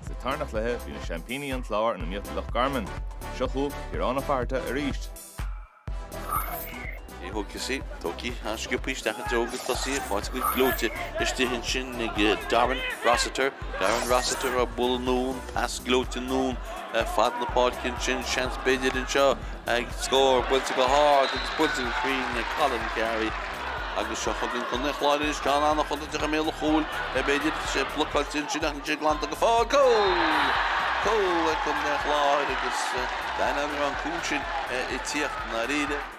Sa tarna chluiche bhí na seaimpíní an Clár in iomaíocht le Loch Garman. Seo chugaibh Ciarán Ó Fátharta arís. Agus í tógtha, an-sciobtha isteach i dtreo go tosaigh agus faighte go gleoite istigh ansin ag Darren Rossiter. Darren Rossiter á bualadh anonn pas gleoite anonn fad na páirce ansin, seans, b'fhéidir anseo ag scór buailte go hard agus buailte go cruinn ag Colin Carey agus seo chugainn Contae an Chláir anois, ceann an-chontúirteach i mbéal an chúil b'fhéidir, tá sé blocáilte ansin ach níl sé glanta go fóill, cúl! Cúl ag Contae an Chláir agus d'aithneofá an cúl sin ag tíocht, ndáiríre.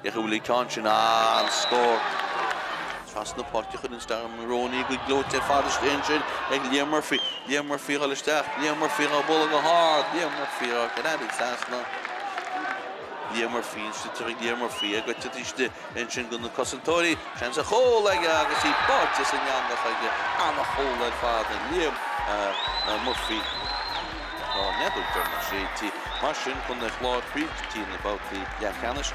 Féach a bhfuil ag teacht ansin, an-scór! Trasna na páirce a chuireann Stuart Moroney go gleoite ar fad isteach ansin ag Liam Murphy. Liam Murphy a dhul isteach, Liam Murphy á bhualadh go hard, Liam Murphy á ghreadadh trasna. Liam Murphy an sliotar ag Liam Murphy, ag eitilt istigh ansin go na cosantóirí. Seans ar chúl aige agus í báite san eangach aige. An-chúl ar fad ag Liam Murphy. Tá neadar do na sé tí mar sin Contae an Chláir go dtí na babhtaí leathcheannais.